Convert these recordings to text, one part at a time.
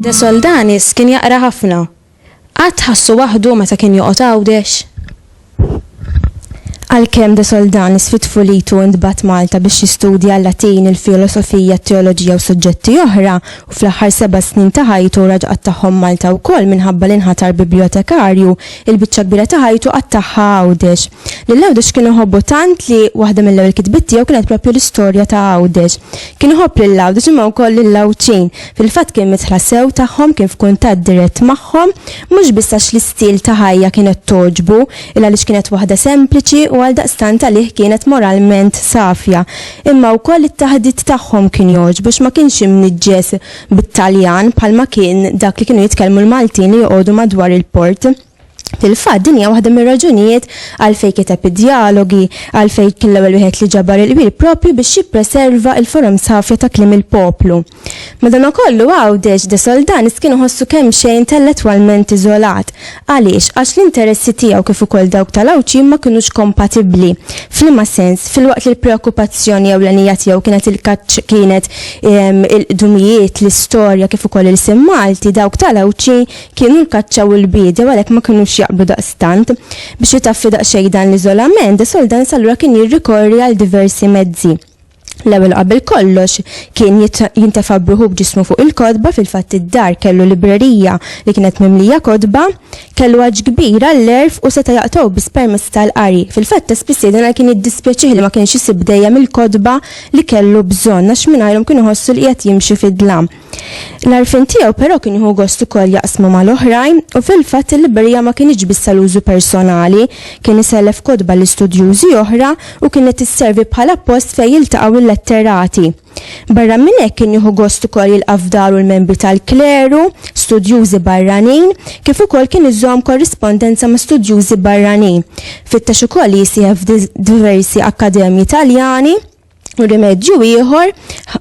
De Soldanis kien jaqra ħafna. Qatt ħassu waħdu meta kien joqgħod Għawdex? Għalkemm De Soldan isfied f'ulitu u ntbagħat Malta biex jistudja l-Latin, il-filosofija, t-teoloġija u suġġetti oħra, u fl-aħħar seba' snin ta' ħajtu raġa' qattagħhom Malta wkoll minħabba li nħatar bibljotekarju, il-biċċa kbira ta' ħajtu qattagħha Għawdex. Lil Għawdex kien iħobbu tant li waħda mill-ewwel kitbiet tiegħu kienet proprju l-istorja ta' Għawdex. Kien iħobb lil Għawdex imma wkoll lill-Għawdxin. Fil-fatt kien midħla sew tagħhom, kien f'kuntatt dirett magħhom, mhux biss għax l-istil ta' ħajja kienet togħġbu, illa għaliex kienet waħda sempliċi u għaldaqstant għalih kienet moralment safja, imma wkoll it-taħdit tagħhom kien jogħġbu għax ma kienx imniġġes bit-Taljan bħalma kien dak li kienu jitkellmu l-Maltin li joqogħdu madwar il-port. Fil-fatt, din hija waħda mir-raġunijiet għalfejn kiteb id-Djalogi, għalfejn kien l-ewwel wieħed li ġabar il-qbil proprju biex jippreserva il-forums ħafja ta' kliem il-poplu. Madanakollu Għawdex, De Soldanis kien iħossu kemxejn intellettwalment iżolat. Għaliex? Għax l-interessi tiegħu kif ukoll dawk tal-Għawdxin ma kinux kompatibbli. F'liema sens? Filwaqt li l-preokkupazzjoni ewlenija tiegħu kienet il-kaċċ kienet il-qdumijiet, l-istorja kif ukoll ilsien Malti, dawk tal-Għawdxin Kienu l-kaċċa u l-biedja u għalhekk ma kinux jaqblu daqstant. Biex jitaffi daqsxejn dan l-iżolament, De Soldans allura kien jirrikorri għal diversi mezzi. L-ewwel u qabel kollox, kien jintefa' b'ruħu b'ġismu fuq il-kotba, fil-fatt id-dar kellu librerija li kienet mimlija kotba, kellu għatx kbir għall-għerf u seta' jaqtgħu biss permezz tal-qari. Fil-fatt ta' spiss jgħidilna li kien jiddispjaċih li ma kienx isib dejjem il-kotba li kellu bżonn għax mingħajrhom kien iħossu li qiegħed jimxi fid-dlam. L-għarfien tiegħu però kien jieħu gost ukoll jaqsmu mal-oħrajn u fil-fatt il-librerija ma kinitx biss għal użu personali, kien isellef kotba l-istudjużi oħra u kienet tisservi bħala post fejn jiltaqgħu l-letterati. Barra minn hekk kien jieħu gost ukoll jilqa' f'daru l-membri tal-kleru, studjużi barranin, kif ukoll kien iżomm korrispondenza ma' studjużi barranin. Fittex ukoll li jisieħeb f'diversi akkademji Taljani. rimedju ieħor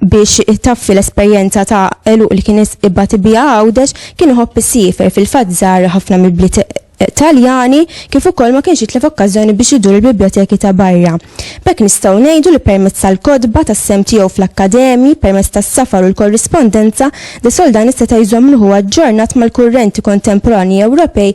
biex taffi l-esperjenza ta' eluq li kien ibati bija għawdex kien iħobb isifer fil-fatt żar ħafna mill-bliet Taljani kif ukoll ma kienx jitlef okkażjoni biex idur il-biblioteki ta' barra. B'hekk nistgħu ngħidu li permezz tal-kotba, tas-sehem tiegħu fl-akkademji, permezz tas-safar u l-korrispondenza, de Soldani seta' jżomm ruħu aġġornat mal-kurrenti kontemporanji Ewropej